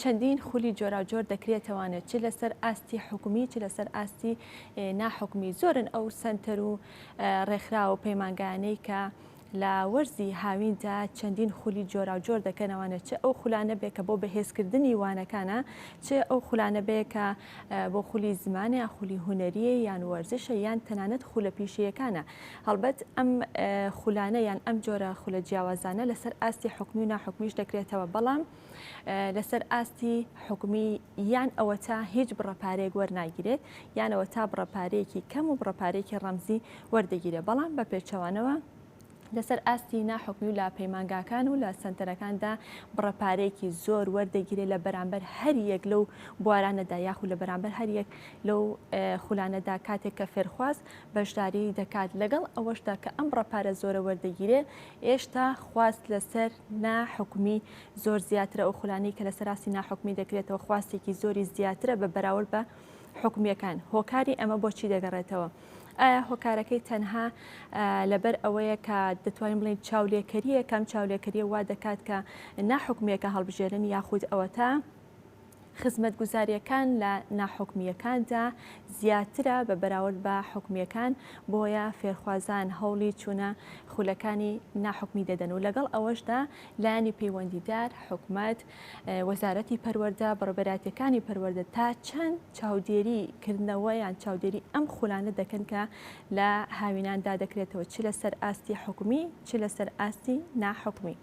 چەندین خولی جۆراوجۆر دەکرێتەوانێت چ لەسەر ئاستی حکومی چ لەسەر ئاستی ناحکومی زۆرن ئەو سنتەر و ڕێکخرا و پەیمانگانەی کە لە وەرزی هاویندا چەندین خولی جۆرا و جۆر دەکەنەوەە چ ئەو خولانە بێ کە بۆ بەهێزکردنی وانەکانە چ ئەو خولانە بێ کە بۆ خولی زمانە خولی هوەریە یان وەرزشە یان تەنانەت خولە پیشەکانە هەڵبەت ئەم خولانە یان ئەم جۆرە خولە جیاوازانە لەسەر ئاستی حکومی و ناحکومیش دەکرێتەوە بەڵام لەسەر ئاستی حکومی یان ئەوە تا هیچ بڕەپارێک وەرناگیرێت یانەوە تا بڕەپارێکی کەم و بڕەپارێکی ڕەمزی وەردەگیرێت بەڵام بە پێچەوانەوە لەسەر ئاستی ناحکمی و لە پەیمانگاکان و لە سنتەرەکاندا بڕەپارێکی زۆر وەردەگیرێ لە بەرامبەر هەر یەک لەو بوارانەدا یاخود لە بەرامبەر هەر یەک لەو خولانەدا کاتێک کە فێرخواز بەشداری دەکات، لەگەڵ ئەوەشدا کە ئەم ڕەپارە زۆرە وەردەگیرێ، ئێشتا خواست لەسەر نا حکومی زۆر زیاترە، ئەو خولانەی کە لەسەر ئاستی نا حکومی دەکرێتەوە خواستێکی زۆری زیاترە بە بەراورد بە حکومیەکان، هۆکاری ئەمە بۆ چی دەگەڕێتەوە؟ ئایا هۆکارەکەی تەنها لەبەر ئەوەیە کە دەتوانین بڵین چاولێکەریە کەم چاولێکەریە وا دەکات کە ناحکومیەکە هەڵبژێرن یاخود ئەوەتا خزمەتگوزارییەکان لە ناحکومییەکاندا زیاترە بە بەراورد بە حکومییەکان، بۆیە فێرخوازان هەوڵی چوونە خولەکانی ناحکومی دەدەن و لەگەڵ ئەوەشدا لایەنی پەیوەندیدار، حکومەت، وەزارەتی پەروەردە، بەڕێوەبەرایەتییەکانی پەروەردە تا چەند چاودێری کردنەوە یان چاودێری ئەم خولانە دەکەن کە لە هاویناندا دەکرێتەوە چ لەسەر ئاستی حکومی چ لەسەر ئاستی ناحکومی.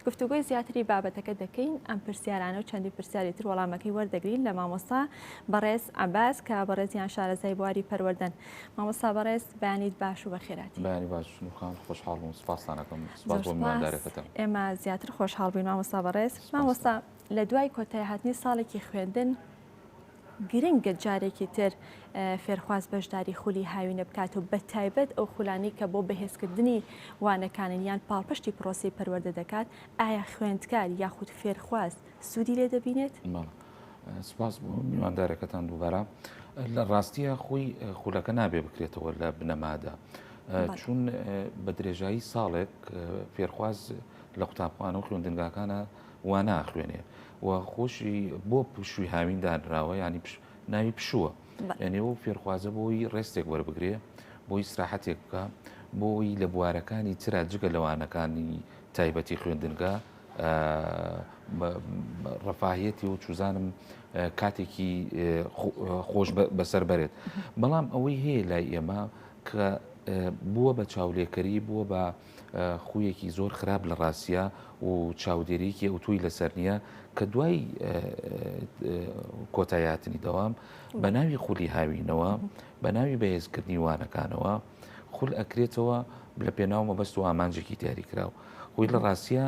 گفتوگۆی زیاتری بابەتەکە دەکەین ئەم پرسیارانە و چەندی پرسیاری تر وەڵامەکەی وەردەگرین لە مامۆستا بەڕێز عباس کە بەڕێزیان شارەزای بواری پەروەردەن مامۆستا بەڕێز بەیانیت باش و بەخێراتی بەیانی باش خان خۆشحاڵ بووم سپاسانەکەم ئێمە زیاتر خۆشحاڵ بووین مامۆستا بەڕێز مامۆستا لە دوای کۆتای هاتنی ساڵێکی خوێندن گرنگە جارێکی تر فێرخواز بەشداری خولی هاوینە بکات و بە تایبەت ئەو خولانەی کە بۆ بەهێزکردنی وانەکانن یان پاڵپشتی پرۆسی پەروەردە دەکات ئایا خوێندکار یاخود فێرخواز سوودی لێ دەبینێت؟ سپاس بۆ میواندارەکەتان دووبارە لە ڕاستیە خۆی خولەکە نابێ بکرێتەوە لە بنەمادا چون بە درێژایی ساڵێک فێرخواز لە قوتابخانە و خوێندنگاکانە واناخوێنێ و خۆشی بۆ پشووی هاوین دانراوە ینی ناوی پشووە یعنی ئەو فێرخوازە بۆی ڕێستێک وەربگرێ بۆی سراحەتێک بکە بۆی لە بوارەکانی تررا جگە لەوانەکانی تایبەتی خوێندنگە ڕفاهەتی و چوزانم کاتێکی خۆش بەسەر بەرێت بەڵام ئەوەی هەیە لای ئێمە کە بووە بە چاولێکەری بووە بە خویەکی زۆر خراپ لە ڕاستیا و چاودێریەکی ئەوتۆی لەسەر نییە کە دوای کۆتای هاتنی دەوام بە ناوی خولی هاوینەوە بە ناوی بەهێزکردنی وانەکانەوە خول ئەکرێتەوە لە پێناو مەبەست و ئامانجێکی دیاریکراو خۆی لە ڕاستە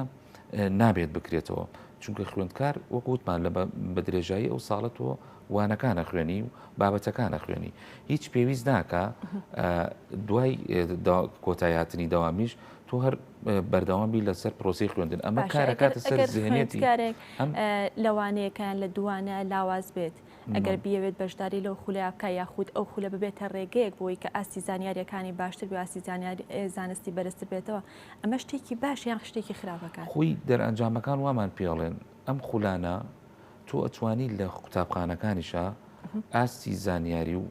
نابێت بکرێتەوە چونکە خوێندکار وەک وتمان لە بە درێژایی ئەو ساڵە تۆ وانەکانە خوێنی و بابەتەکانە خوێنی هیچ پێویست ناکە دوای کۆتایاتنی داوامیش تۆ هەر بەردەوام بی لەسەر پرۆسی خوێندن ئەمە کارەکاتە سەر زیێنێتی کارێک لەوانەیەکان لە دوانە لاواز بێت ئەگەر بیاوێت بەشداری لەو خولیا بکە یاخود ئەو خولە ببێتە ڕێگەیەک بۆی کە ئاستی زانیاریەکانی باشتر بێ ئاستی زانیاری زانستی بەرزتر بێتەوە ئەمە شتێکی باشە یان شتێکی خراپە کان؟ خۆی دەرئەنجامەکان وامان پێڵێن ئەم خولانە تۆ ئەتوانی لە قوتابخانەکانیشا ئاستی زانیاری و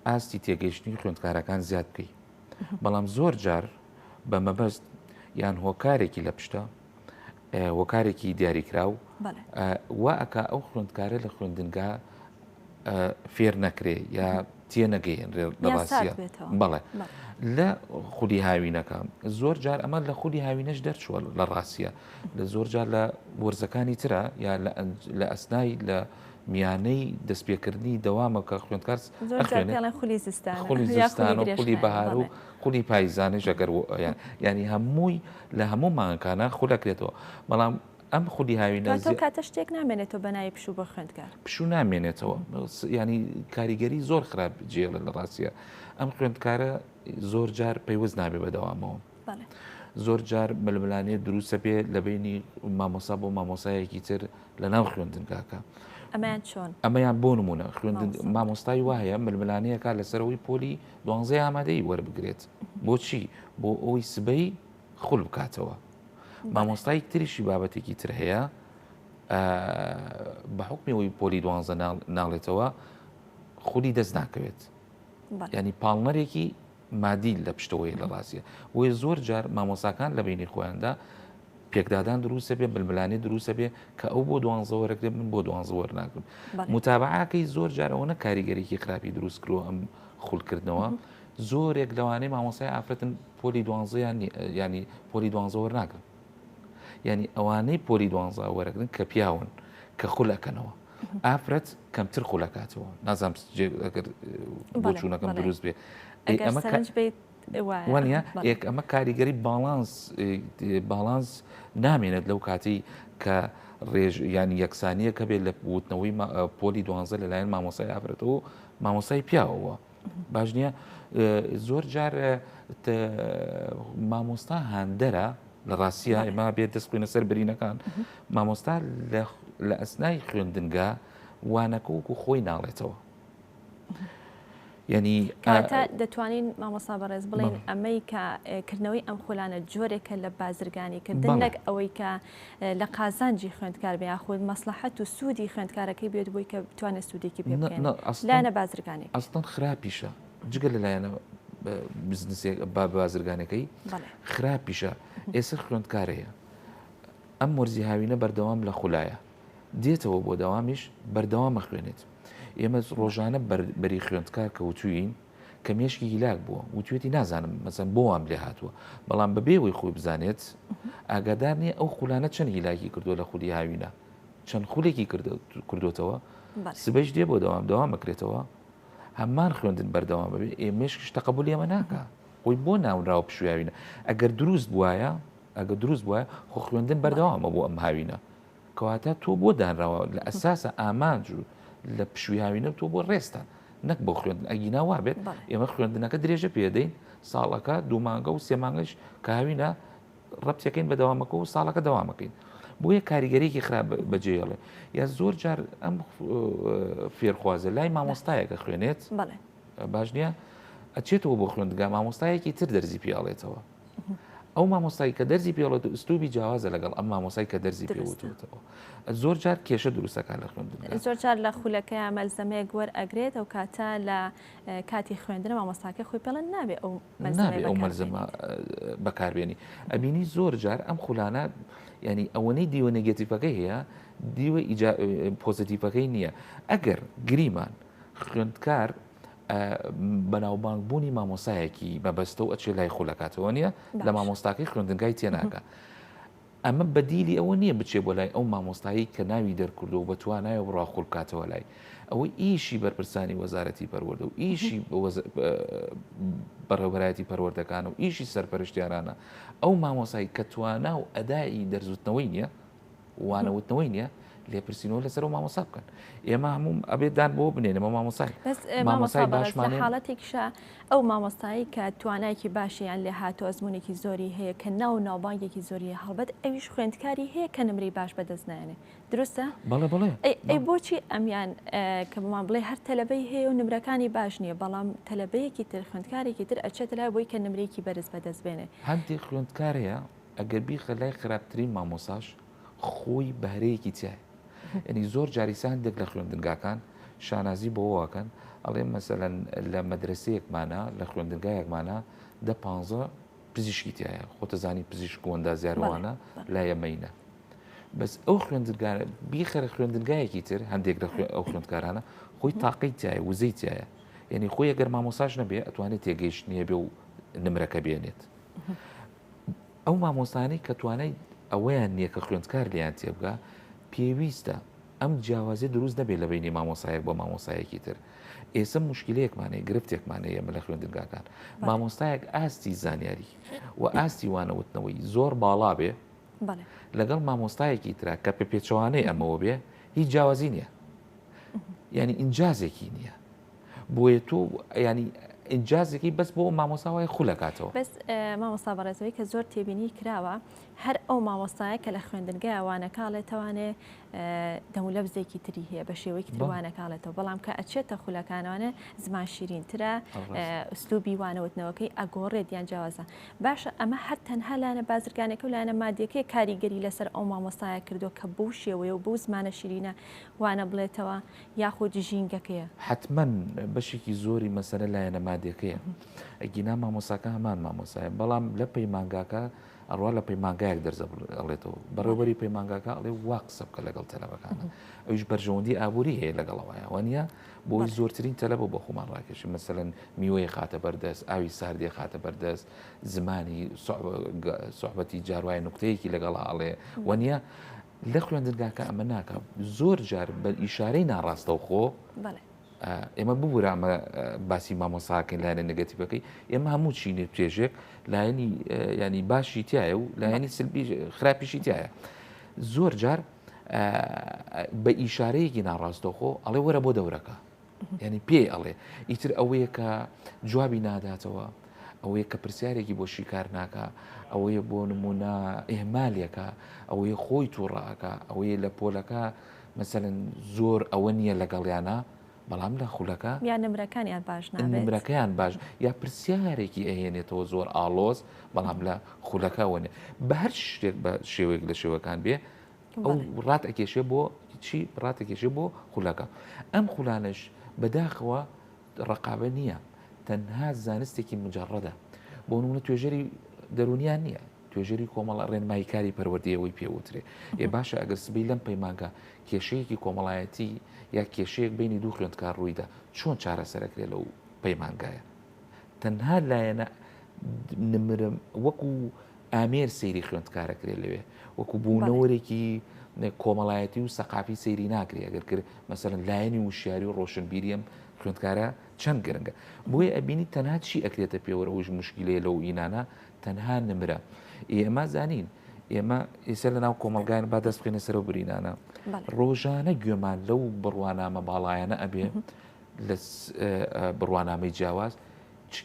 ئاستی تێگەیشتنی خوێندکارەکان زیاد بکەی بەڵام زۆر جار بە مەبەست یان هۆکارێکی لە پشتە هۆکارێکی دیاریکراو وا ئەکا ئەو خوێندکارە لە خوێندنگا فێر نەکرێ یا تێ نەگەیەنرێ لە ڕاستە بەڵێ لە خودی هاوینەکە زۆر جار ئەمە لە خودی هاوینەش دەرچووە لە ڕاستە لە زۆر جار لە وەرزەکانی ترە یا لە ئەسنای لە میانەی دەستپێکردنی دەوامەکە خوێندکارس خولی زستان خولی بەهار و خولی پایزانیش ئەگەر یانی هەمووی لە هەموو مانکانە خول ئەکرێتەوە بەڵام ئەم خولی هاوینە زیاتر کاتە شتێک نامێنێتەوە بە ناوی پشوو بۆ خوێندکار پشوو نامێنێتەوە ینی کاریگەری زۆر خراپ جێڵە لە ڕاستە ئەم خوێندکارە زۆر جار پەیوەست نابێ بەدەوامەوە زۆر جار ململانێ دروستە بێ لە بینی مامۆسا بۆ مامۆسایەکی تر لە ناو خوێندنگاکە. ئەمەیان چۆن ئەمەیان بۆ نمونە خوێندن مامۆستای وایە ململانەیەکە لەسەرەوەی پۆلی دوانزەی ئامادەیی وەربگرێت بۆچی بۆ ئەوی سبەی خول بکاتەوە مامۆستای تریشی بابەتێکی تر هەیە بە حکمی ئەوی پۆلی دوانزە ناڵێتەوە خودی دەست ناکەوێت ینی پاڵنەرێکی مادیل لە پشتەوەی لە ڕاستە بۆیە زۆر جار مامۆساکان لە بینی خۆیاندا پێکدادان دروستە بێ بلملانی دروستە بێ کە ئەو بۆ دوانزەوەرەکرێ من بۆ دوانزەوەەر ناکرم متابعاکەی زۆر جارەوە نە کاریگەرێکی خراپی دروست کرۆ ئەم خول کردنەوە زۆرێک لەوانەیە مامۆسای ئافرەتن پۆلی دوانزەیان ینی پۆلی دوانزە وەرناگرن ینی ئەوانەی پۆلی دوانزا وەرەگرن کە پیاون کە خولەکەنەوە ئافرەت کەمتر خولەکاتەوە نازانام بۆچوونەکەم دروست بێ ئەمە بێت وانە ئێک ئەمە کاریگەری باڵانس باڵانس نامێنێت لەو کاتی کە ڕێژ یان یەکسانیە کە بێت لە وتنەوەی پۆلی دوانزە لەلایەن مامۆسای ئافرەتەوە مامۆسای پیاوەوە باش نییە زۆر جار مامۆستا هاندەرە لە ڕاستە ئێمە بێت دەست خوێنە سەر برینەکان مامۆستا لە ئەسنای خوێندنگە وانەکە وکو خۆی ناڵێتەوە یعنی کاتە دەتوانین مامۆسا بەڕێز بڵین ئەمەی کە کردنەوەی ئەم خولانە جۆرێکە لە بازرگانی کردن نەک ئەوەی کە لە قازانجی خوێندکار بێ یاخود مەسلحەت و سوودی خوێندکارەکەی بێت بووی کە بتوانێت سوودێکی پێ لایەنە بازرگانی ئەستان خراپیشە جگە لە لایەنە بزنسێک با بازرگانەکەی خراپیشە ئێستا خوێندکارەیە ئەم وەرزی هاوینە بەردەوام لە خولایە دێتەوە بۆ دەوامیش بەردەوام ئەخوێنێت ئێمە ڕۆژانە بەری خوێندکار کە وتوین کە مێشکی هیلاک بووە وتێتی نازانم مەسەن بۆ وام لێ هاتووە بەڵام بەبێەوەی خۆی بزانێت ئاگادار نییە ئەو خولانە چەند هیلاکی کردووە لە خولی هاوینە چەند خولێکی کردوتەوە سبەیش دێ بۆ دەوام دەوام بکرێتەوە هەمان خوێندن بەردەوام بێ ئێ مێشکش تەقبول ئێمە ناکە خۆی بۆ ناونراوە پشویاوینە ئەگەر دروست بواە ئەگەر دروست بوایە خۆ خوێندن بەردەوامە بۆ ئەم هاوینە کەواتە تۆ بۆ دانراوە لە ئەساسە ئامانج و لە پشوی هاوینە تۆ بۆ ڕێستە نەک بۆ خوێندن ئەگینا وا بێت ئێمە خوێندنەکە درێژە پێدەین ساڵەکە دوومانگە و سێمانگەش کاوینە ڕەتەکەین بە دەوامەکە و ساڵەکە دەوامەکەین بۆیە کاریگەرێکی خراپ بەجێڵێ یا زۆر جار ئەم فێرخوازە لای مامۆستایەکە خوێنێت باش نییە ئەچێتەوە بۆ خوێندگا مامۆستایەکی تر دەرزی پیاڵێتەوە ئەو مامۆستای کە دەرزی پێڵێت و ئستوبی جیاوازە لەگەڵ ئەم مامۆسای کە دەرزی پێوتەوە زۆر جار کێشە دروستەکان لە خوێندن زۆر جار لە خولەکە مەلزەمەیەک وەر ئەگرێت ئەو کاتە لە کاتی خوێندن مامۆستاکە خۆی پێڵن نابێ ئەو نابێ ئەو مەلزەمە بەکاربیێنی ئەبینی زۆر جار ئەم خولانە ینی ئەوەنەی دیوە نگەتیفەکە هەیە دیوە پۆزیتیفەکەی نییە ئەگەر گریمان خوێندکار ئە بەناوبانگ بوونی مامۆسایەکی مەبەستەو ئەچێ لای خۆ لەکاتەوە نیە لە مامۆستاکەی خوێندنگای تێناکە ئەمە بەدیلی ئەوە نییە بچێ بۆ لای ئەو مامۆستایی کە ناوی دەرکردو و بەتوانایە بڕا خۆل بکاتەوە لای ئەوەی ئیشی بەرپرسانی وەزارەتی پەروەردە و ئیشی بەڕێوبەرایەتی پەروەردەکان و ئیشی سەرپەرشتیارانە ئەو مامۆسایی کە توانا و ئەدای دەرزوتنەوەی نییە وانەوتنەوەی نیە لێپرسینەوە لەسەر و مامۆسا بکەن ئێمە هەموم ئەبێت دان بۆ بنێنەوە مامۆسای مامۆسای باشمان حاڵەتێکشە ئەو مامۆستایی کە توانایکی باشیان لێ هاتو ئەزمونێکی زۆری هەیە کە ناو ناوبانگێکی زۆری هەڵبەت ئەویش خوێندکاری هەیە کە نمری باش بەدەست نایێنێ دروستە بەڵێ بڵێ ئەی بۆچی ئەمیان کە بمان بڵێ هەر تەلبەی هەیە و نمرەکانی باش نییە بەڵام تەلبەیەکی تر خوێندکارێکی تر ئەچێت لای بۆی کە نمرێکی بەرز بەدەست بێنێ هەندێک خوێندکارەیە ئەگەر بیخە لای خراپترین مامۆساش خۆی بەهرەیەکی تیایە ینی زۆر جاریسە هەندێک لە خوێندنگاکان شانازی بۆواکەن ئەڵێ مەسەەن لە مەدرسەیەکمانە لە خوێندنگایەکمانە دە پ پزیشکی تایە خۆتەزانی پزیشک و ئەندازیارەوانە لا یەمەینە بەس ئەو خوێندگارە بیخەرە خوێندنگایەکی تر هەندێک لە ئەو خوێندکارانە خۆی تاقی تایە وزەی تایە یعنی خۆی گەر مامۆساش نەبێ ئەتوانێت تێگەیشت نیە بێ و نمرەکە بێنێت. ئەو مامۆستانەی کە توانای ئەوەیان نییە کە خوێندکار لێیان تێبگا پێویستە ئەم جیاوازی دروست نەبێت لە بینی مامۆسایەک بۆ مامۆسایەکی تر ئێستا مشکلەیەکمانەیە گرفتێکمانەیە مە لە خوێندنگاکان مامۆستایەک ئاستی زانیاری و ئاستی وانەوتنەوەی زۆر باڵا بێ لەگەڵ مامۆستایەکی ترا کە پێ پێچوانەی ئەمەوە بێ هیچ جیاوازی نییە ینی ئینجازێکی نییە بۆیە تۆ ینی ئینجازێکی بەس بۆ مامۆستا وای خولەکاتەوە بەس مامۆستا بەڕێزەوەی کە زۆر تێبینی کراوە هەر ئەو مامۆستایە کە لە خوێندنگای وانەکاڵێ توانێ دەمولە بزێکی تری هەیە بە شێوەیەکی توانەکاڵێتەوە بەڵام کە ئەچێتە خولەکانوانێ زمان شیرینترە ئوسلوبی وانەوتنەوەکەی ئەگۆڕێت یان جیاوازە باشە ئەمە هەر تەنها لاەنە بازرگانەکە و لاەنە مادیەکەی کاریگەری لەسەر ئەو مامۆستایە کردو کە بەو شێوەیە و بەو زمانە شیرینە وانە بڵێتەوە یاخود ژینگەکەیە؟ حەتمەن بەشێکی زۆری مەسەلە لایەنە مادیەکەیە ئەگینا مامۆساکە هەمان مامۆسایە بەڵام لە پەیمانگاکە ئەڕوا لە پەیمانگایەک دەرزە ئەڵێتەوە بەڕێوەری پەیمانگاکە ئەڵێ وا قسە بکە لەگەڵ تەلەبەکانە ئەوش بەرژەوەندی ئابووری هەیە لەگەڵەوەیە وانە بۆی زۆرترین تەلەبە بۆ خۆمان ڕاکێشی مەسەن میوەیە خاتە بەردەست ئاوی ساردێ خاتە بەردەست زمانی سوحبەتی جاروای نقطەیەکی لەگەڵا ئەڵێ وانە لە خوێندنگاکە ئەمە ناکا زۆر جار بە ئیشارەی ناڕاستەوخۆ ئێمە ببوورە ئەمە باسی مامۆساکەین لایەنە نگەتیبەکەی ئێمە هەموو چینێ توێژێک لایەنی ینی باشی تایە و لایەنی سلبی خراپیشی تایە زۆر جار بە ئیشارەیەکی ناڕاستەخۆ ئەڵێ وەرە بۆ دەورەکە یانی پێی ئەڵێ ئیتر ئەوەیە کە جوابی ناداتەوە ئەوەیە کە پرسیارێکی بۆ شیکار ناکە ئەوەیە بۆ نمونە ئێمالێکە ئەوەیە خۆی تووڕەکە ئەوەیە لە پۆلەکە مەسەن زۆر ئەوە نییە لەگەڵیانە بەڵام لە خولەکە یا نمرەکانیان باش نمرەکەیان باش یا پرسیارێکی ئەهێنێتەوە زۆر ئاڵۆز بەڵام لە خولەکەەوەێ بە هەر شتێک بە شێوەیەک لە شێوەکان بێ ئەو ڕات ئەکێشێ بۆ چی ڕاتەکێشێ بۆ خولەکە ئەم خولانش بەداخەوە ڕقابە نییە تەنها زانستێکی مجارڕەدە بۆ نمونە توێژەری دەرونیان نییە توێژەری کۆمەڵە ڕێنمایی کاری پەروەردەیەوەی پێوترێ ێ باشە ئەگەر سبی لەم پەیمانگە کێشەیەکی کۆمەڵایەتی یا کێشەیەک بینی دوو خوێندکار ڕوویدا چۆن چارەسەرەکرێ لەو پەیمانگایە تەنها لایەنە نمرم وەکو ئامێر سەیری خوێندکارە کرێ لەوێ وەکو بوونەوەرێکی کۆمەڵایەتی و سەقافی سەیری ناکری ئەگەر کرد مەسەرن لایەنی وشیاری و ڕۆشنبیریەم خوێندکارە چەند گرنگە بۆیە ئەبینی تەنها چی ئەکرێتە پێوەرە هۆش مشکلەیە لەو ئینانە تەنها نمرە ئێمە زانین ئێمە ئێستا لە ناو کۆمەلگایان با دەست بخێنە سەر و برینانە ڕۆژانە گوێمان لەو بڕوانامە باڵایەنە ئەبێ لە بڕوانامەی جیاواز چ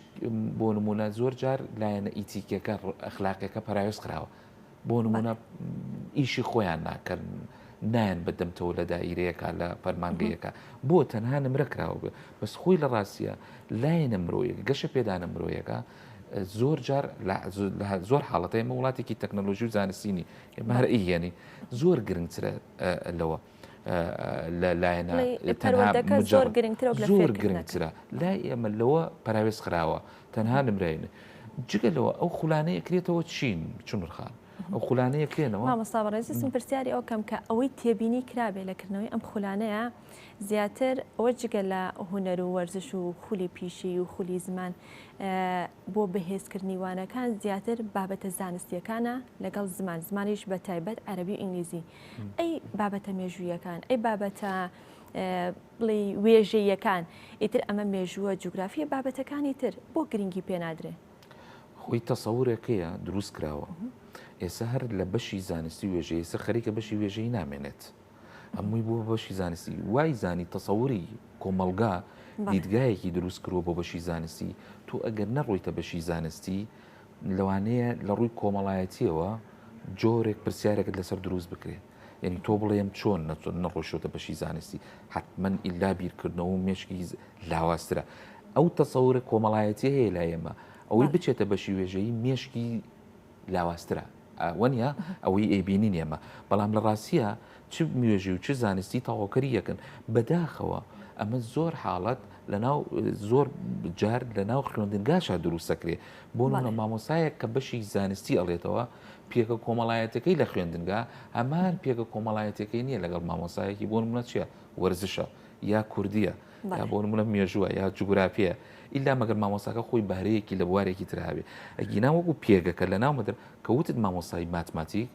بۆ نموونە زۆر جار لایەنە ئیتیکیەکە ئەخلاقیەکە پەراوێز خراوە بۆ نمونە ئیشی خۆیان ناکەن نایەن بەدەمتەوە لە دایرەیەەکە لە فەرمانگەیەەکە بۆ تەنها نمرە کراوە بێ بەس خۆی لە ڕاستە لایەنە مرۆیەک گەشە پێدانە مرۆیەکە زۆر جار زۆر حاڵەتە ئمە وڵاتێکی تەکنەلۆژی و زانستینی مارئیگەنی زۆر گرنگترە لەوە. لە لایەنە پەروەردەکە زۆر گرنگترە و لە زۆر فێرکردنەکە. گرنگترە لای ئێمە لەوە پەراوێز خراوە تەنها نمرەینە جگە لەوە ئەو خولانەیە کرێتەوە چین چونر خان ئەو خولانەیە کرێنەوە مامۆستا بەڕێزم پرسیاری ئەو کەم کە ئەوەی تێبینی کرابێ لە کردنەوەی ئەم خولانەیە زیاتر ئەوە جگە لە هوەر و وەرزش و خولی پیشی و خولی زمان بۆ بەهێزکردنی وانەکان زیاتر بابەتە زانستیەکانە لەگەڵ زمان زمانیش بە تایبەت عەربی و ئینگلیزی ئەی بابەتە مێژوویەکان ئەی بابەتە بڵێ وێژەیەکان ئیتر ئەمە مێژووە جوگرافیە بابەتەکانی تر بۆ گرنگی پێنادرێ خۆی تەسەورێکەیە دروست کراوە ئێستا هەر لە بەشی زانستی وێژەیە سە خەریکە بەشی وێژەی نامێنێت هەمووی بوو بەشی زانستی وای زانی تەسەوری کۆمەلگا دیدگایەکی دروست کرۆ بۆ بەشی زانستی تۆ ئەگەر نەڕۆیتە بەشی زانستی لەوانەیە لە ڕووی کۆمەڵایەتیەوە جۆرێک پرسیارێکت لەسەر دروست بکرێت یعنی تۆ بڵێم چۆن نەچۆن نەڕۆشتە بەشی زانستی حتممەن ئللا بیرکردنەوە و مێشکی لاوازترە ئەو تەسەورە کۆمەڵایەتی هەیە لای ئێمە ئەوەی بچێتە بەشی وێژەیی مێشکی لاوازترە وەنیە ئەوەی ئەیبینین ئێمە، بەڵام لە ڕاستیە چ مێژوی و چ زانستی تەواوکەری یەکن، بەداخەوە ئەمە زۆر حاڵەت لەناو زۆر جار لەناو خوێندنگاشا دروست دەکرێ، بۆ نمونە مامۆستایەک کە بەشی زانستی ئەڵێتەوە پێگە کۆمەڵایەتەکەی لە خوێندنگا هەمان پێگە کۆمەڵایەتەکەی نیە لەگەڵ مامۆستایەکی بۆ نمونە چیە وەرزشە یا کوردیە، یا بۆ نمونە مێژووە یا جوگرافیە ئیلا مەگەر مامۆساکە خۆی بەهرەیەکی لە بوارێکی تراوێ ئەگینا وەکو پێگەکە لە ناومەدە کە وتت مامۆسای ماتماتیک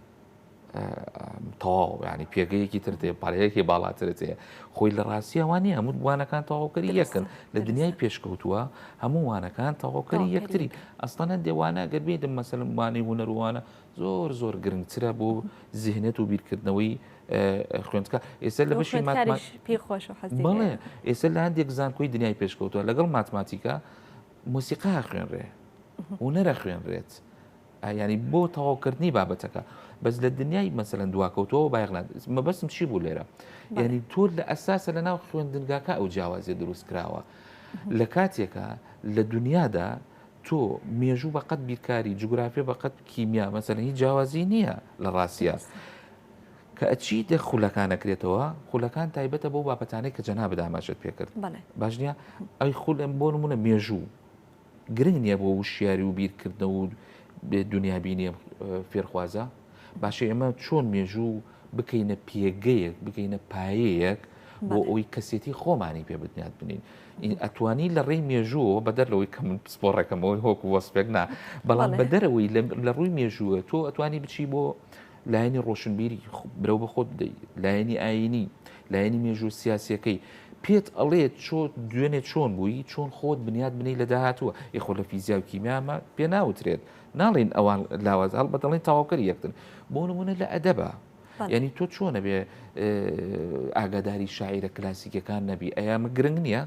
تەواو ینی پێگەیەکی تر تێ پارەیەکی باڵاترت هەیە خۆی لە ڕاستیە وانە هەموو وانەکان تەواوکەری یەکن لە دنیای پێشکەوتووە هەموو وانەکان تەواوکەری یەکتری ئەستانە دێوانە گەربێتم مەسەلمانەی هوەروانە زۆر زۆر گرنگترە بۆ زیهنێت و بیرکردنەوەی خوێندکە ئێستا لە بەشی پێ خۆش بڵێ ئێستا لە هەندێک زانکۆی دنیای پێشکەوتوە لەگەڵ ماتماتیکا موسیقا خوێنرێ و نەرە خوێنرێت ینی بۆ تەواوکردنی بابەتەکە بەس لە دنیای مەسەرەن دواکەوتەوە بایغلان مەبەستم چی بوو لێرە یعنی تۆر لە ئەساسە لە ناو خوێندنگاکە ئەو جیاوازیە دروست کراوە لە کاتێکە لە دنیادا تۆ مێژوو بە قەد بیرکاری جوگرافیە بە قەد کیمیا مەسەن هیچ جیاوازی نییە لە ڕاستە کە ئەچی دە خولەکانەکرێتەوە خولەکان تایبەتە بۆ بابەتانێک کە جەنا بداماشت پێکرد باش نیە ئەی خول ئەم بۆ نمونە مێژوو گرنگ نییە بۆ وشیاری و بیرکردنەوە و دنیابینی فێرخوازە باشە ئێمە چۆن مێژوو بکەینە پێگەیەک بگەینە پایەیەک بۆ بەڵێ. ئەوی کەسێتی خۆمانی پێ بنیات بنین ئی ئەتوانی لە ڕێی مێژووەوە بەدەر لەوەی کە من پسپۆڕێکەمەوەی هۆک وەسپێک نا بەڵام بەڵێ. بەدەرەوەی لە لە ڕووی مێژووە تۆ ئەتوانی بچی بۆ لایەنی ڕۆشنبیری خو- برەو بە خۆت بدەی لایەنی ئاینی لایەنی مێژوو سیاسیەکەی پێت ئەڵێ چۆ دوێنێ چۆن بووی چۆن خۆت بنیات بنەی لە داهاتووە ئێ خۆ لە فیزیا و کیمیامان پێ ناوترێت ناڵێین ئەوان لاوازە هەڵبەت دەڵێن تەواوکەری یەکترن بۆ نمونە لە ئەدەبا یعنی تۆ چۆنە بێ ئاگاداری شاعیرە کلاسیکەکان نەبی ئەیامە گرنگ نییە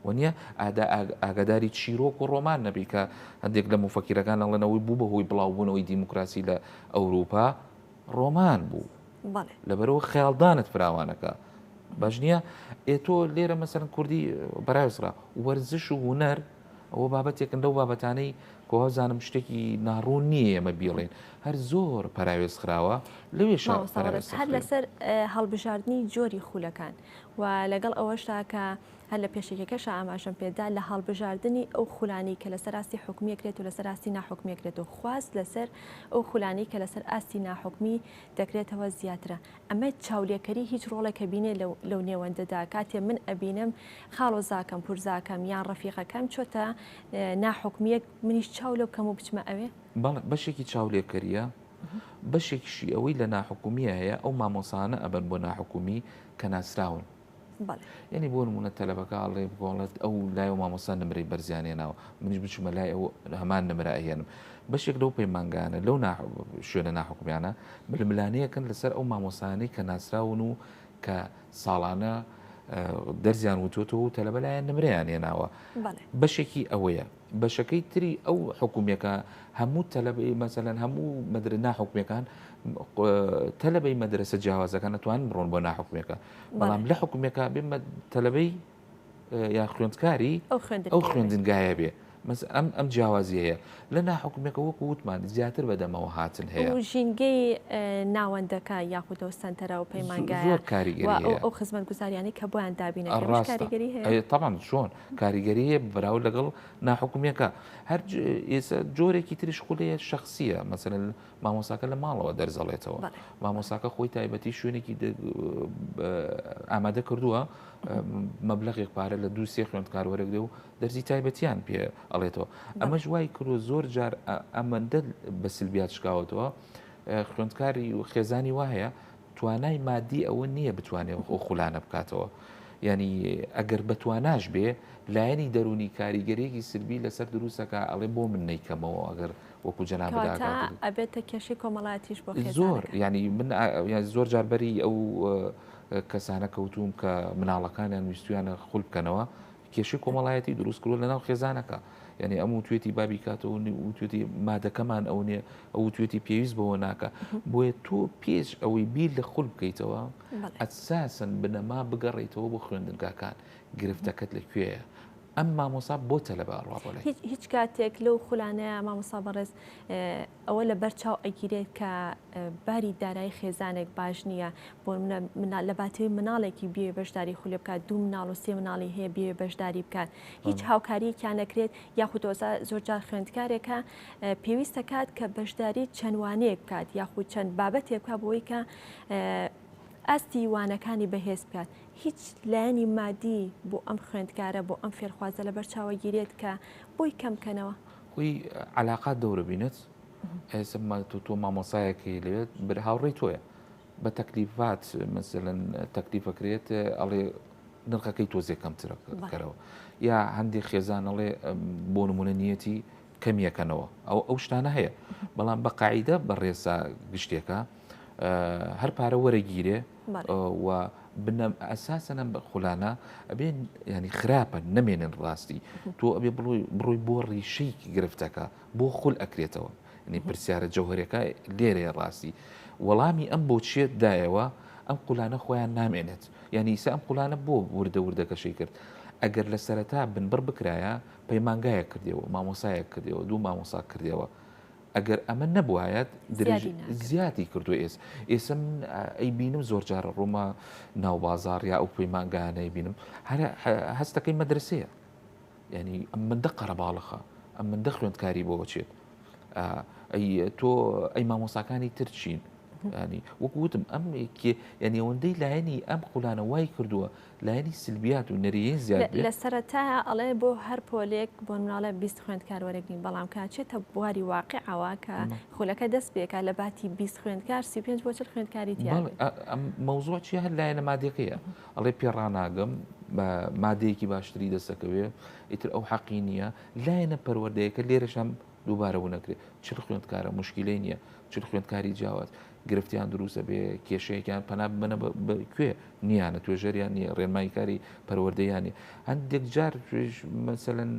وەنیە ئادا ئاگاداری چیرۆک و ڕۆمان نەبی کە هەندێک لە مفەکیرەکان ئەڵێنەوەی بوو بە هۆی بڵاوبوونەوەی دیموکراسی لە ئەوروپا ڕۆمان بوو لەبەرەوە خیاڵدانت فراوانەکە باش نییە ئێ تۆ لێرە مەسەرن کوردی بەراێسرا وەرزش و هوەر و ئەوە بابەتێکن لەو بابەتانەی کۆوازانم شتێکی ناڕوون نییە ئمە بیڵێن هەر زۆر پراوێز خراوە لەوێ هەر لەسەر هەڵبژاردننی جۆری خولەکان و لەگەڵ ئەوەشدا کە هەر لە پێشێکەکەش ئاماژەم پێدا لە هەڵبژاردننی ئەو خولانی کە لەسەر ئاستی حکومیەکرێت و لەسەر ئاستی ناحکومیەکرێت و خواست لەسەر ئەو خولانی کە لەسەر ئاستی ناحکمی دەکرێتەوە زیاترە ئەمە چاولێکەری هیچ ڕۆڵێک ئەبینێ لەو لەو نێوەندەدا کاتێ من ئەبینم خاڵۆزاکەم پورزاکەم یان ڕەفیقەکەم چۆتە ناحوکمیەک منیش چاو لێ بکەم و بچمە ئەوێ؟ بەڵێ بەشێکی چاولێکەریە بەشێکیشی ئەوەی لە ناحوکمیە هەیە ئەو مامۆسانە ئەبەن بۆ ناحوکمی کە ناسراون. بەڵێ. یانی بۆ نموونە تەلەبەکە ئەڵێ بگۆڵێت ئەو لای و مامۆستا نمرەی بەرزیان هێناوە منیش بچمە لای ئەو هەمان نمرە ئەهێنم بەشێک لەو پەیمانگانە لەو شوێنە ناحکومیانە ململانەیەکەن لەسەر ئەو مامۆسانەی کە ناسراون و کە ساڵانە دەرزیان وتوتەوە و تەلەبە لایەن نمرەیان هێناوە بەشێکی ئەوەیە بەشەکەی تری ئەو حکومیەکە هەموو تەلەبەی مەسەلەن هەموو مدرە ناحکومەکان تەلەبەی مەدرسە جیاوازەکان نتوان بڕۆن بۆ ناحکومەکە بەڵام لە حکومێکا بێمە تەلەبەی یا خوێندکاری ئەو خوێندنگایە بێ مەس ئەم ئەم جیاوازیەیە لە ناحکومێکە وەکو وتمان زیاتر بەدەمەوە هاتن هەیە ژینگەی ناوەندەکە یاخودەوە سنتەرە و پەیمانگای زۆر کاریگەری ئەو خزمەت گوزاریانی کە بۆیان دابینە ڕاستگەری هەیە تاان چۆن کاریگەریە براو لەگەڵ ناحکومەکە هەر ئێستا جۆرێکی تریش خولەیە شخصیە مەسەن مامۆساکە لە ماڵەوە دەرزەڵێتەوە مامۆساکە خۆی تایبەتی شوێنێکی ئامادە کردووە مەبلغێک پارە لە دوو سێ خوێندکار وەرەگرێ و دەرزی تایبەتیان پێ ئەڵێتەوە ئەمەش وای کردو زۆر جار ئەمەندە بە سلبیات شکاوتەوە خوێندکاری و خێزانی وایە توانای مادی ئەوە نییە بتوانێت ئەو خولانە بکاتەوە. ینی ئەگەر بەتواناش بێ لایەنی دەرونی کاریگەرێکی سربی لەسەر دروستەکە ئەڵێ بۆ من نیکەمەوە ئەگەر وەکو جەنابت ئاگادار کەواتە بوو ئەبێتە کێشەی کۆمەڵایەتیش بۆ خێزانەکە زۆر یانی من ئا یان زۆر جار بەری ئەو کەسانە کەوتووم کە مناڵەکانیان ویستویانە خول بکەنەوە کێشەی کۆمەڵایەتی دروست کردوە لەناو خێزانەکە یعنی ئەم و توێتی بابی کاتەوە نی و توێتی مادەکەمان ئەو نیە ئەو و توێتی پێویست بەوە ناکە بۆیە تۆ پێش ئەوەی بیر لە خول بکەیتەوە بەڵێ ئەساسن بنەما بگەڕیتەوە بۆ خوێندنگاکان گرفتەکەت لەکوێیە ئەم مامۆسا بۆ تەلەبە ئەڕوا بۆ لای. هیچ کاتێک لەو خولانەیە مامۆسا بەڕێز ئەوە لە بەر چاو ئەگیرێت کە باری دارایی خێزانێک باش نییە بۆ لە باتەوەی مناڵێکی بێ بەشداری خولێ بکات دوو مناڵ و سێ مناڵی هەیە بێ بەشداری بکات هیچ هاوکاریەکیان نەکرێت یاخودۆزا زۆرجار خوێندکارێکە پێویستە کات کە بەشداری چەندوانەیە بکات یاخود چەند بابەتێکە بۆی کە ئاستی وانەکانی بەهێز بکات هیچ لایەنی مادی بۆ ئەم خوێندکارە بۆ ئەم فێرخوازە لەبەر چاوە گیرێت کە بۆی کەم کەنەوە؟ خۆی علاقات دەورە بینت ئێسمە تو تۆ مامۆسایەکی لێت بر هاوڕێی تۆیە بە تەکلیفات مەسەن تەکلیفەکرێت ئەڵێ نرخەکەی تۆزێ کەمترە کەرەوە یا هەندێک خێزان ئەڵێ بۆ نمونە نیەتی کەمیەکەنەوە ئەو ئەو شتانە هەیە بەڵام بە قاعدە بە ڕێسا گشتێکە هەر پارە وەرەگیرێ و بنەم ئەساسەن ئەم خولانە ئەبێ ینی خراپە نەمێنن ڕاستی تۆ ئەبێ بڕۆی بۆ ڕیشەی گرفتەکە بۆ خول ئەکرێتەوە نی پرسیارە جەوهرەکە لێرەیە ڕاستی وەڵامی ئەم بۆچیە دایەوە ئەم قولانە خۆیان نامێنێت یعنی ئیسا ئەم قولانە بۆ وردە وردەکەشەی کرد ئەگەر لە سەرەتا بنبڕ بکرایە پەیمانگایە کردەوە مامۆسایە کردەوە دوو مامۆسا کردەوە ئەگەر ئەمە نەبوایەت درێژ زیادی کردو ئێس ئێسم ئەی بینم زۆر جارە ڕوومە ناو بازار یا ئەو پەیمانگانەی بینم هەر هەستەکەی مەدرسەیە ینی ئەم من دە قەرەباڵخە ئەم من دە خوێندکاری بۆ بچێت ئەی تۆ ئەی مامۆساکانی ترچین ینی وەکوتم ئەم ینی ئەوەندەی لایەنی ئەم قولانە وای کردووە لایەنی سلبیات و نەریەی زیاد بێت. لە سەرەتایا ئەڵێ بۆ هەر پۆلێک بۆ نمراڵە بیست خوێندکار وەرەگرین بەڵام کە ئەچێتە بواری واقعەوە کە خولەکە دەست پێکا لە باتی بیست خوێندکار سی و پێنج بۆ چل خوێندکاری تیا بێت. بەڵێ ئەم مەوزووع چیە هەر لایەنە مادیەکەیە ئەڵێ پێ ڕاناگەم بە مادەیەکی باشتری دەسەکەوێ ئیتر ئەو حەقی نییە لایەنە پەروەردەیەکە لێرەشم دووبارە ونەکرێت چل خوێندکارە مشکلەی نییە چل خوێندکاری جیاواز گرفتیان دروست دەبێ کێشەیەکیان پەنا ببەنە کوێ نییانە توێژەریان نیە ڕێنمایی کاری پەروەردەیانی هەندێک جار توێژ مەسەن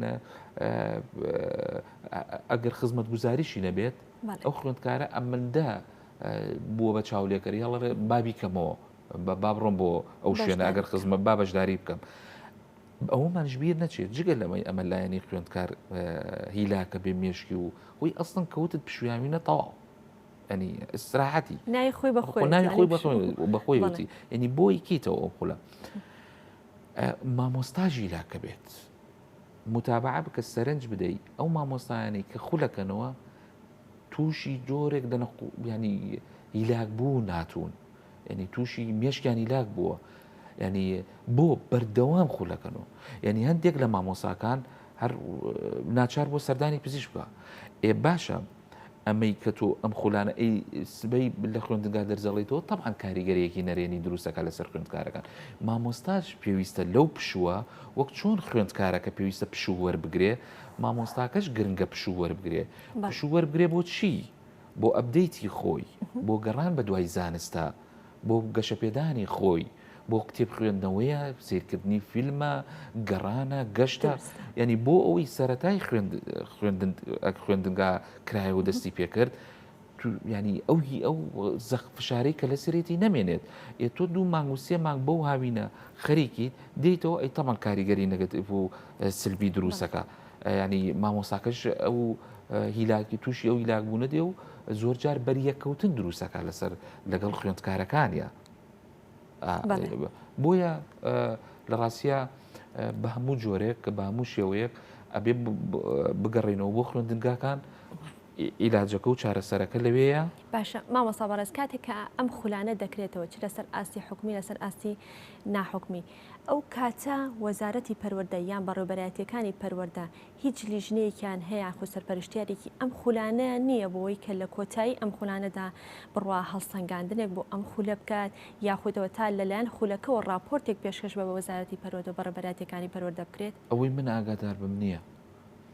ئەگەر خزمەت گوزاریشی نەبێت ئەو خوێندکارە ئەمەندە بووە بە چاولێکەری هەڵڵێ بابی کەمەوە بە بابڕۆم بۆ ئەو شوێنە ئەگەر خزمە با بەشداری بکەم. ئەومانش بیر نەچێت جگە لەمەی ئەمە لایەنی خوێندکار هیلاکە بێ مێشکی و هۆی ئەستن کەوتت پشویاوی نەتەواو ینی ئیسراحەتی نای خۆی بە خۆی نای خۆی بە خۆی وتی ینی بۆ یکیتەوە ئەو خولە مامۆستاژی لاکە بێت متابع بکە سەرنج بدەیت ئەو مامۆستایانی کە خولەکەنەوە تووشی جۆرێک دەنە ینی هیلاک بوو ناتون ینی تووشی مێشکیانی لاک بووە ینی بۆ بەردەوام خولەکەنەوە ینی هەندێک لە مامۆساکان هەر ناچار بۆ سەردانی پزیش بکە ئێ باشە ئەمەی کە تۆ ئەم خولانە ئەی سبەی لە خوێندنگا دەرجەڵیتەوە تەبان کاریگەرەیەکی نەرێنی دروستەکە لەسەر خوێندکارەکان مامۆستاش پێویستە لەو پشووە وەک چۆن خوێندکارەکە پێویستە پشوو وەربگرێ مامۆستاکەش گرنگە پشوو وەربگرێ پشوو وەربگرێ بۆ چی بۆ ئەبدەیتی خۆی بۆ گەڕان بە دوای زانستە بۆ گەشەپێدانی خۆی بۆ کتێب خوێندنەوەیە سیرکردنی فیلمە گەڕانە گەشتە ینی بۆ ئەوەی سەتای خوێندنگا کرایەوە دەستی پێکرد ینی ئەو هی ئەو زەخ فشارەی کە لە سرێتی نەمێنێت ئێ تۆ دوو مانگ و سێ مانگ بەو هاوینە خەریکیت دیتەوە ئەی تەمەڵ کاریگەری نەگەت بوو سلبی دروستەکە یانی مامۆستاکەش ئەو هیلاکی تووشی ئەو هیلاک بوونە دێ و زۆر جار بەریەککەوتن دروستەکە لەسەر لەگەڵ خوێندکارەکانە بۆیە لە ڕاستە بە هەموو جۆرێک کە بە هەموو شێوەیەک ئەبێ بگەڕێنەوە بۆ خوێندنگاکان ئیلاجەکە و چارەسەرەکە لەوەیە باشە مامەسا بەڕێز کاتێک کە ئەم خولانە دەکرێتەوە چ لەسەر ئاستی حکومی لەسەر ئاستی ناحکمی ئەو کاتە وەزارەتی پەروەردە یان بەڕێوبەرایەتیەکانی پەروەردە هیچ لیژنەیەکیان هەیە یاخود سەرپەرشتیارێکی ئەم خولانەیان نییە بۆوەی کە لە کۆتایی ئەم خولانەدا بڕوا هەڵسەنگاندنێک بۆ ئەم خولە بکات یاخودەوە تا لەلایەن خولەکەوە ڕاپۆرتێک پێشکەش بە وەزارەتی پەروەردە و بەڕێوبەرایەتیەکانی پەروەردە بکرێت؟ ئەوەی من ئاگاداربم نییە.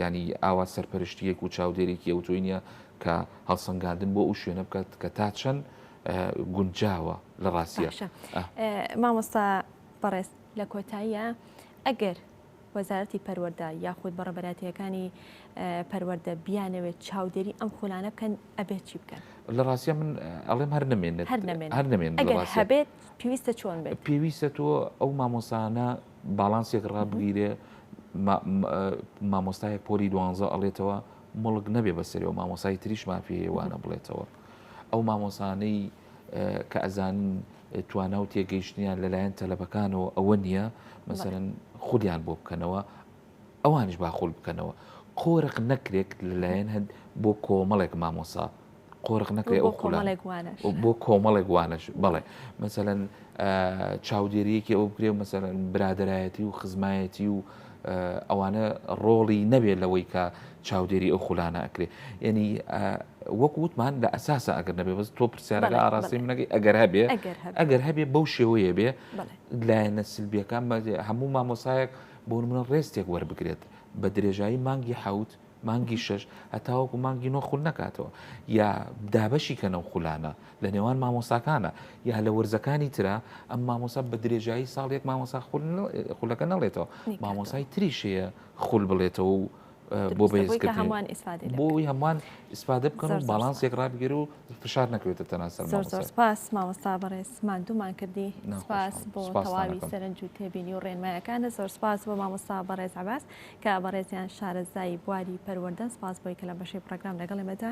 یانی ئاوا سەرپەرشتییەک و چاودێرێکی ئەوتۆی نییە کە هەڵسەنگاندن بۆ ئەو شوێنە بکات کە تا چەند گونجاوە لە ڕاستیە مامۆستا بەڕێز لە کۆتاییە ئەگەر وەزارەتی پەروەەردە یاخود بە ڕەبەراتیەکانی پەروەەردە بیانەوێت چاودێری ئەم خولانە بکەن ئەبێت چی بکەن لە ڕاستە من ئەڵێم هەر نمێنێت هەر نمێن هەبێت پێویستە چۆن بێت پێویستە تۆ ئەو مامۆسانە باڵانسێک ڕابگیرێ مامۆستایەک پۆلی دوانزە ئەڵێتەوە مڵک نەبێ بەسەرەوە مامۆسای تریش مافی هێوانە بڵێتەوە ئەو مامۆسانەی کە ئەزان توانا و تێگەیشتنیان لەلایەن تەلەبەکانەوە ئەوە نییە مەسەرەن خودیان بۆ بکەنەوە ئەوانش باخۆل بکەنەوە قۆرق نەکرێت لەلایەن هەند بۆ کۆمەڵێک مامۆسا قۆرغ نەکرێ ئەو خولانە بۆ کۆمەڵێک وانەش بەڵێ مەسەەن چاودێریەکی ئەو بکرێ و مەسەەن برادایەتی و خزمایەتی و ئەوانە ڕۆڵی نەبێت لەوەی کە چاودێری ئەو خولانە ئەکرێ یعنی وەک وتمان لە ئەساسە ئەگەر نەبێ بەس تۆ پرسیارەکە ئاراستی منەکەی ئەگەر هەبێ ئەگەر هەبێ بەو شێوەیە بێ لایەنە سلبیەکان هەموو مامۆسایەک بۆ منە ڕێستێک وەربگرێت بە درێژایی مانگی حوت مانگی شەش هەتاوەکو مانگی نۆ خول نەکاتەوە یا دابەشی کە نەو خولانە لە نێوان مامۆساکانە یا لە وەرزەکانی تررا ئەم مامۆسا بە درێژایی ساڵێک مامۆسا خولەکە نەڵێتەوە مامۆسای تریشەیە خول بڵێتەوە و بۆ بەیسکە هەمان بۆی هەمان ئیسپادە بکەن و باڵانسێک ڕابگەر و فشار نەکرێتە تەناسەر سپاس مامۆستا بەڕێز مادومان کردی سپاس بۆ تەواوی سەرنج و تێبینی و ڕێنمایەکانە زۆر سپاس بۆ مامۆستا بەڕێز عباس کە بەڕێزیان شارەزای بواری پەروەردەن سپاس بۆی کە لەم بەشەی پڕەگرام لەگەڵ ئێمەدا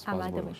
سپاس بۆ ئامادە بوون. ئێوەش.